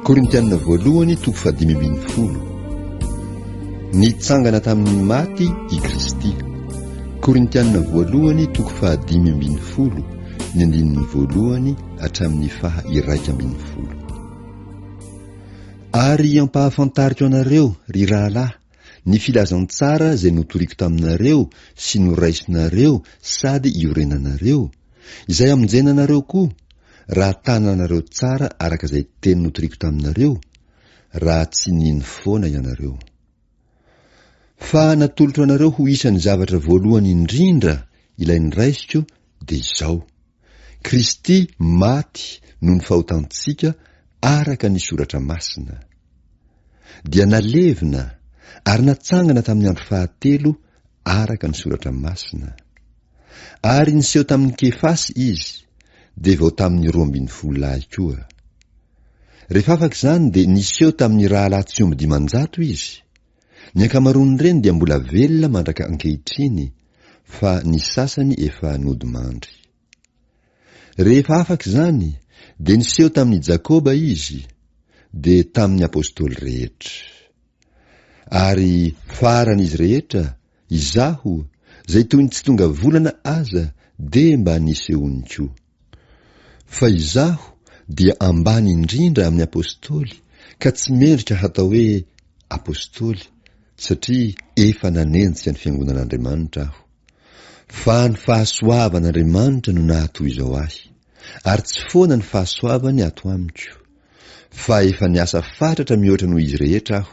Korintiana voalohany toko fahadimy ambin'ny folo Nitsangana tamin'ny maty i Kristy Korintiana voalohany toko fahadimy ambin'ny folo ny andininy voalohany hatramin'ny faha iraika ambin'ny folo Ary ampahafantariko anareo, ry rahalahy, ny filazantsara izay notoriko taminareo sy noraisinareo sady iorenanareo, Izay hamonjena anareo koa, raha tana anareo tsara araka izay teny notoriko taminareo, raha tsy nino foana ianareo. Fa natolotro anareo ho isan'ny zavatra voalohany indrindra ilay niraisiko dia izao, Kristy maty noho ny fahotantsika araka ny Soratra Masina. Dia nalevina ary natsangana tamin'ny andro fahatelo araka ny Soratra Masina. Ary niseho tamin'i Kefasy izy, dia vao tamin'ny roa ambin'ny folo lahy koa. Rehefa afaka izany dia niseho tamin'ny rahalahy tsy omby dimanjato izy. Ny ankamaroan'ireny dia mbola velona mandraka ankehitriny, fa ny sasany efa nodimandry. Rehefa afaka izany, dia niseho tamin'i Jakoba izy, dia tamin'ny apostoly rehetra. Ary faran'izy rehetra Izaho, zay toy ny tsy tonga volana aza de mba nisehoany ko. Fa izaho dia ambany indrindra amin'ny Apostoly ka tsy mendrika hatao hoe Apostoly satria efa nanenjika ny Fiangonan'Andriamanitra aho. Fa ny fahasoavan'Andriamanitra no nahatoy izao ahy. Ary tsy foana ny fahasoavany ato amiko. Fa efa niasa fatratra mihoatra noho izy rehetra aho.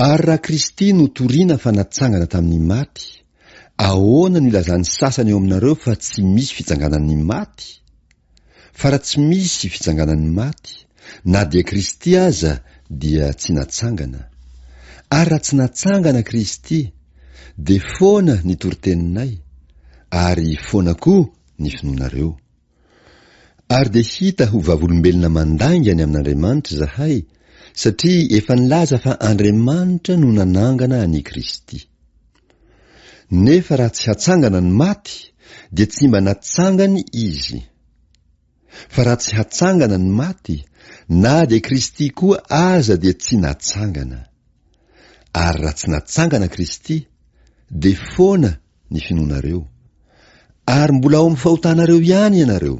Ary raha Kristy no toriana fa natsangana tamin'ny maty, ahoana no ilazan'ny sasany ao aminareo fa tsy misy fitsanganan'ny maty? Fa raha tsy misy fitsanganan'ny maty, na dia Kristy aza dia tsy natsangana. Ary raha tsy natsangana Kristy, dia foana ny toriteninay, ary foana koa ny finoanareo. Ary dia hita ho vavolombelona mandainga ny amin'Andriamanitra izahay, satria efa nilaza fa Andriamanitra no nanangana an' i Kristy. Nefa raha tsy hatsangana ny maty, dia tsy mba natsangany Izy. Fa raha tsy hatsangana ny maty, na dia Kristy koa aza dia tsy natsangana. Ary raha tsy natsangana Kristy, dia foana ny finoanareo, ary mbola ao amin'ny fahotanareo ihany ianareo,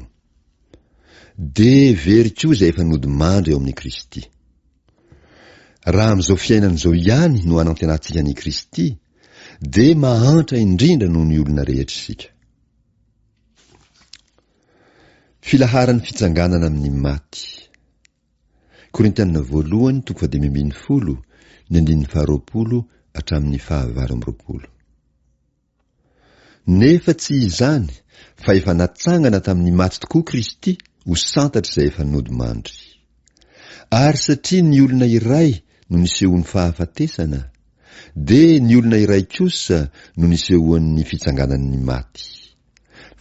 dia very koa izay efa nodimandry ao amin'i Kristy. Raha amin'izao fiainana izao ihany no anantenantsika an'i Kristy, dia mahantra indrindra noho ny olona rehetra isika. Filaharan'ny fitsanganana amin'ny maty. Korintiana Voalohany toko fahadimy ambin'ny folo, ny andininy faharoapolo hatramin'ny fahavalo amby roapolo. Nefa tsy izany, fa efa natsangana tamin'ny maty tokoa Kristy ho santatr'izay efa nodimandry. Ary satria ny olona iray no nisehoan'ny fahafatesana, dia ny olona iray kosa no nisehoan'ny fitsanganan'ny maty.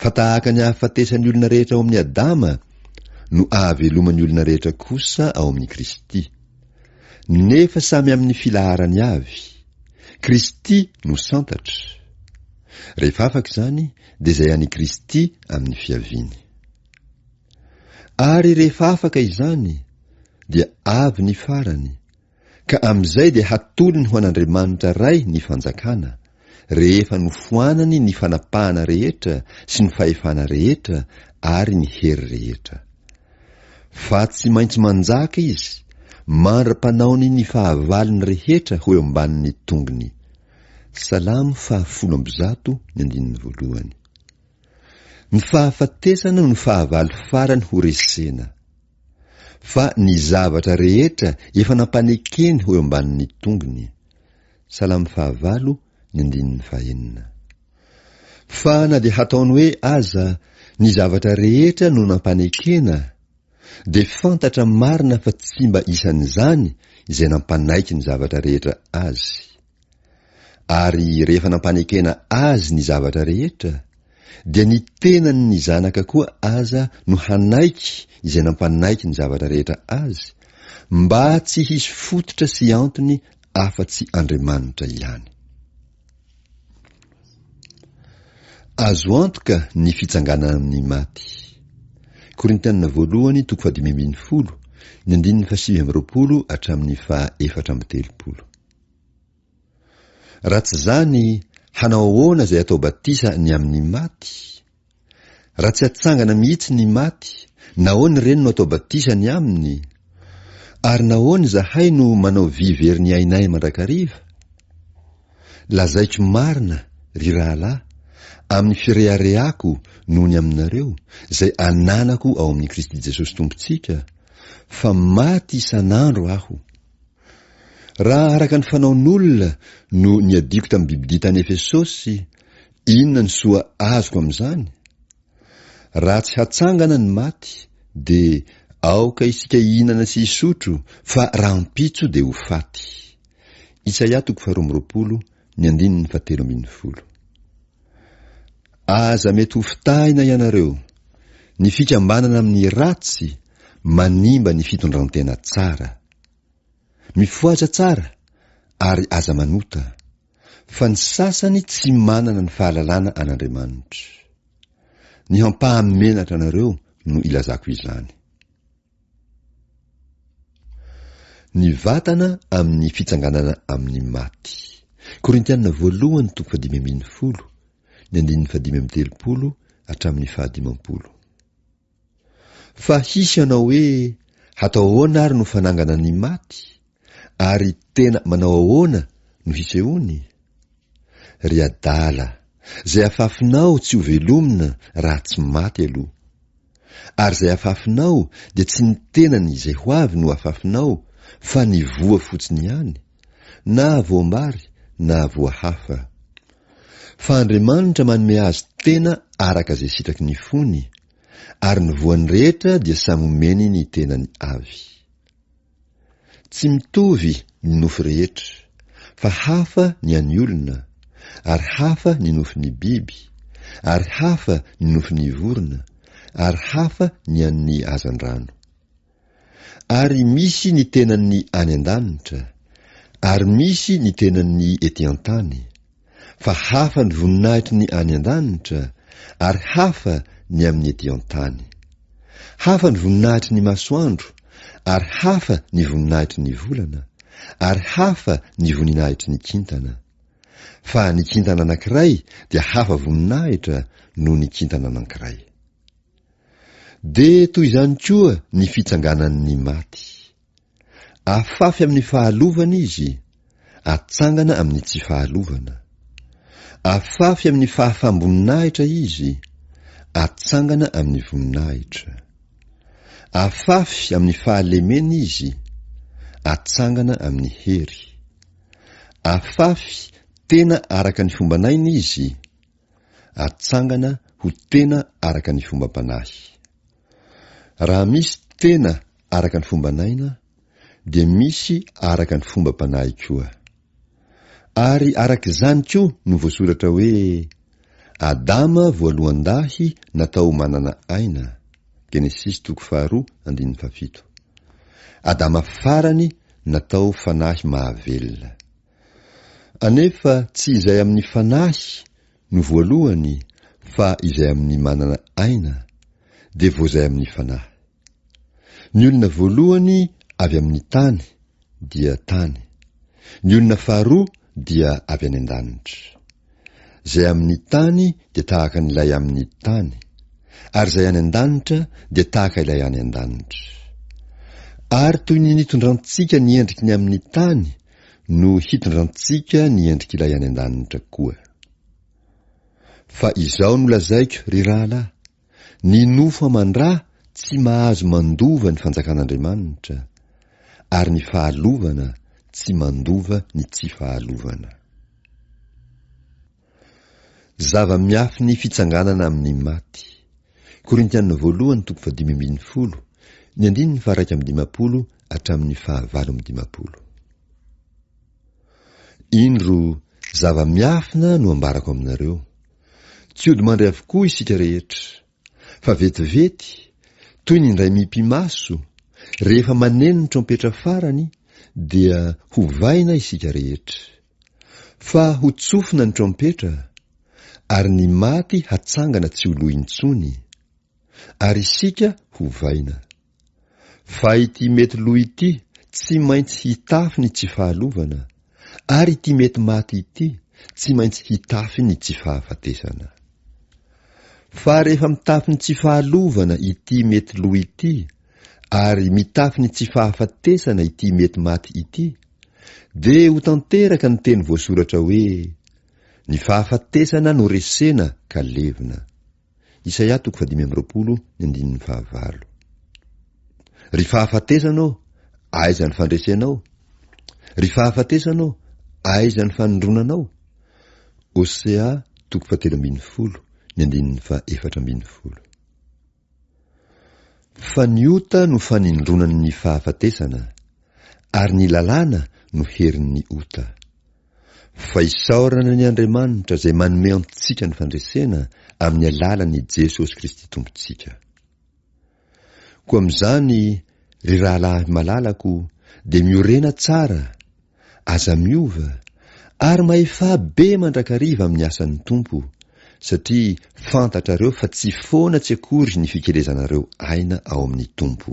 fa tahaka ny ahafatesan'ny olona rehetra ao amin'i Adama no ahaveloman'ny olona rehetra kosa ao amin'i Kristy. Nefa samy amin'ny filaharany avy. Kristy no santatra. Rehefa afaka izany, dia izay an'i Kristy amin'ny fiaviany. Ary rehefa afaka izany, dia avy ny farany, Ka amin'izay dia hatolony ho an'Andriamanitra Ray ny fanjakana, rehefa nofoanany ny fanapahana rehetra sy ny fahefana rehetra ary ny hery rehetra. Fa tsy maintsy manjaka Izy, mandra-panaony ny fahavalony rehetra ho eo ambanin'ny tongony. Salamo fahafolo amby zato ny andininy voalohany. Ny fahafatesana no fahavalo farany ho resena. Fa ny zavatra rehetra efa nampanekeny ho eo ambanin'ny tongony. Salamo fahavalo, ny andininy fahenina. Fa na dia hataony hoe aza ny zavatra rehetra no nampanekena, dia fantatra marina fa tsy mba isan'izany izay nampanaiky ny zavatra rehetra azy. Ary rehefa nampanekena azy ny zavatra rehetra, dia ny tenany ny zanaka koa aza no hanaiky izay nampanaiky ny zavatra rehetra azy, mba tsy hisy fototra sy antony afa-tsy Andriamanitra ihany. Azo antoka ny fitsanganana amin'ny maty. Korintianina voalohany, toko fahadimy ambin'ny folo, ny andininy fahasivy amby roapolo hatramin'ny faha efatra amby telopolo. Raha tsy izany, hanao ahoana izay atao batisa ny amin'ny maty? Raha tsy hatsangana mihitsy ny maty, nahoana ireny no atao batisa ny aminy? Ary nahoana izahay no manao vy very ny ainay mandrakariva? Lazaiko marina, ry rahalahy, amin'ny fireharehako noho ny aminareo, izay ananako ao amin'i Kristy Jesosy Tompontsika, fa maty isan'andro aho. Raha araka ny fanaon'olona no niadiako tamin'ny bibidia tany Efesosy, inona ny soa azoko amin'izany? Raha tsy hatsangana ny maty, dia aoka isika hihinana sy hisotro, fa rahampitso dia ho faty. Isaia toko faharoa amby roapolo, ny andininy fahatelo ambin'ny folo. Aza mety ho fitahina ianareo. Ny fikambanana amin'ny ratsy manimba ny fitondrantena tsara. Mifohaza tsara ary aza manota, fa ny sasany tsy manana ny fahalalana an'Andriamanitra. Ny hampaha-menatra anareo no ilazako izany. Ny vatana amin'ny fitsanganana amin'ny maty. Korintiana voalohany toko fahadimy ambin'ny folo, ny andininy fahadimy amby telopolo hatramin'ny fahadimampolo. Fa hisy hanao hoe, Hatao ahoana ary no fanangana ny maty? Ary tena manao ahoana no hisehoany? Ry adala, izay afafinao tsy ho velomina raha tsy maty aloha. Ary izay afafinao dia tsy ny tenany izay ho avy no afafinao fa ny voa fotsiny ihany, na voam-bary na voa hafa. Fa Andriamanitra manome azy tena araka izay sitraky ny fony, ary ny voany rehetra dia samy omeny ny tenany avy. Tsy mitovy ny nofy rehetra, fa hafa ny an'ny olona, ary hafa ny nofin'ny biby, ary hafa ny nofin'ny vorona, ary hafa ny an'ny hazandrano. Ary misy ny tenan'ny any an-danitra, ary misy ny tenan'ny ety an-tany, fa hafa ny voninahitry ny any an-danitra, ary hafa ny amin'ny ety an-tany. Hafa ny voninahitry ny masoandro, ary hafa ny voninahitry ny volana, ary hafa ny voninahitry ny kintana. Fa ny kintana anankiray dia hafa voninahitra noho ny kintana anankiray. Dia toy izany koa ny fitsanganan' ny maty. Afafy amin' ny fahalovana izy, atsangana amin' ny tsy fahalovana. Afafy amin' ny fahafam-boninahitra izy, atsangana amin' ny voninahitra. Afafy amin' ny fahalemena izy, atsangana amin' ny hery. Afafy tena araka ny fomban' aina izy, atsangana ho tena araka ny fombam-panahy. Raha misy tena araka ny fomban'aina, dia misy araka ny fombam-panahy koa. Ary araka izany koa no voasoratra hoe, Adama voalohan-dahy natao manana aina, Genesisy toko faharoa andininy fahafito. Adama farany natao fanahy mahavelona. Anefa tsy izay amin'ny fanahy no voalohany fa izay amin'ny manana aina, dia vao izay amin'ny fanahy. Ny olona voalohany avy amin'ny tany, dia tany. Ny olona faharoa dia avy any an-danitra. Izay amin'ny tany dia tahaka an'ilay amin'ny tany, ary izay any an-danitra dia tahaka ilay any an-danitra. Ary toy ny nitondrantsika ny endriky ny amin'ny tany no hitondrantsika ny endrik'Ilay any an-danitra koa. Fa izao no lazaiko, ry rahalahy, ny nofo aman-dra tsy mahazo mandova ny fanjakan'Andriamanitra, ary ny fahalovana tsy mandova ny tsy fahalovana. Zava-miafy ny fitsanganana amin'ny maty. Korintiana voalohany toko fahadimy ambin'ny folo, ny andininy faharaika amby dimampolo hatramin'ny fahavalo amby dimampolo. Indro, zava-miafina no ambarako aminareo. Tsy hodimandry avokoa isika rehetra, Fa vetivety, toy ny indray mipi-maso, rehefa maneno ny trompetra farany, dia hovaina isika rehetra. Fa hotsofina ny trompetra, ary ny maty hatsangana tsy ho lo intsony, ary isika hovaina. Fa ity mety lo ity tsy maintsy hitafy ny tsy fahalovana, ary ity mety maty ity tsy maintsy hitafy ny tsy fahafatesana. Fa rehefa mitafy ny tsy fahalovana ity mety lo ity, ary mitafy ny tsy fahafatesana ity mety maty ity, dia ho tanteraka ny teny voasoratra hoe, Ny fahafatesana no resena ka levona. Isaia toko fahadimy amby roapolo ny andininy fahavalo. Ry fahafatesana ô, aiza ny fandresenao? Ry fahafatesana ô, aiza ny fanindronanao? Hosea toko fahatelo ambin'ny folo ny andininy fahefatra ambin'ny folo. Fa ny ota no fanindronan'ny fahafatesana, ary ny lalàna no herin'ny ota. Fa isaorana ny Andriamanitra izay manome antsika ny fandresena amin'ny alalan' i Jesosy Kristy Tompontsika. Koa amin'izany, ry rahalahy malalako, dia miorena tsara, aza miova, ary mahefaha be mandrakariva amin'ny asan'ny Tompo, satria fantatrareo fa tsy foana tsy akory ny fikelezanareo aina ao amin'ny Tompo.